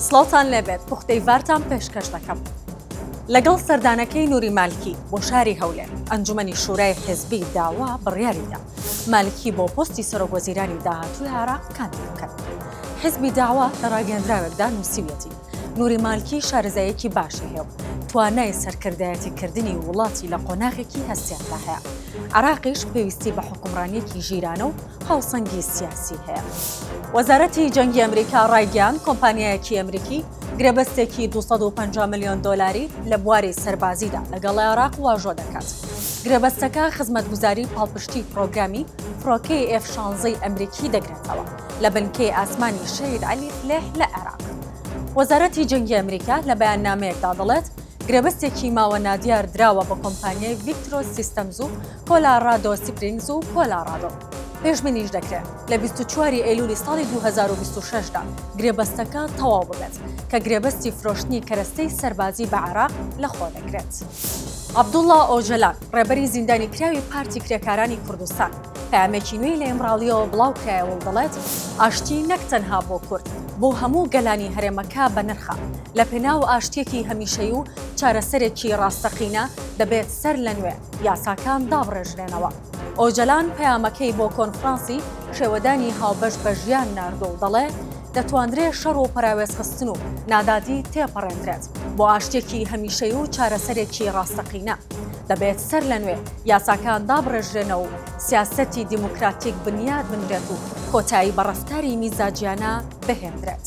سڵاوتان لێبێت پوختەی ڤارتان پێشکەش دەکەم. لەگەڵ سەردانەکەی نوری مالکی بۆ شاری هەولێر، ئەنجومەنی شورای حیزبی داوا بڕیاریدا مالکی بۆ پۆستی سەرۆک وەزیرانی داهاتووی عێراق کاندید بکەن. حیزبی داوا لە راگەیەندراوێکدا نووسیویەتی، نوری مالکی شارەزاییەکی باشی هەیە و توانای سەرکردایەتی کردنی وڵاتی لە قۆناغێکی هەستیاردا هەیە. عێراقیش پێویستی بە حوکمڕانییەکی ژیرانە و هاوسەنگی سیاسی هەیە. وەزارەتی جەنگی ئەمریکا ڕایگەیاند کۆمپانیایەکی ئەمریکی گرێبەستێکی 250 ملیۆن دۆلاری لە بواری سەربازیدا لەگەڵ عێراق واژۆ دەکات. گرێبەستەکە خزمەتگوزاری پاڵپشتی پرۆگرامی فڕۆکەی ئێف شانزەی ئەمریکی دەگرێتەوە لە بنکەی ئاسمانی شەهید عەلی فلێح لە عێراق. وەزارەتی جەنگی ئەمریکا لە بەیاننامەیەکدا دەڵێت گرێبەستێکی ماوە نادیار دراوە بە کۆمپانیای ڤیکترۆس سیستەمز و کۆلاڕادۆ سپرینگز و کۆلاڕادۆ. پێشبینیش دەکرێت لە بیست و چوار ی ئەیلولی ساڵی دوو هەزار و بیست و شەش دا گرێبەستەکە تەواو ببێت کە گرێبەستی فرۆشتنی کەرەستەی سەربازی بە عێراق لەخۆ دەگرێت. عەبدوڵا ئۆجەلان، ڕێبەری زیندانیکراوی پارتی کرێکارانی کوردستان، پەیامێکی نوێی لە ئیمراڵییەوە بڵاوکرایەوە و دەڵێت، ئاشتی نەک تەنها بۆ کورد، بۆ هەموو گەلانی هەرێمەکە بەنرخە، لەپێناو ئاشتییەکی هەمیشەیی و چارەسەرێکی ڕاستەقینە، دەبێت سەرلەنوێ، یاساکان دابڕێژرێنەوە. ئۆجەلان پەیامەکەی بۆ کۆنفرانسی شێوەدانی هاوبەش بە ژیان ناردووە و دەڵێ، دەتواندرێ شەڕ و پەراوێزخستن و نادادی تێپەڕێندرێت بۆ ئاشتییەکی هەمیشەیی و چارەسەرێکی ڕاستەقینە. دەبێت سەرلەنوێ یاساکان دابڕێژرێنەوە و سیاسەتی دیموکراتیک بنیات بنرێت و کۆتایی بە ڕەفتاری میزاجییانە بهێندرێت.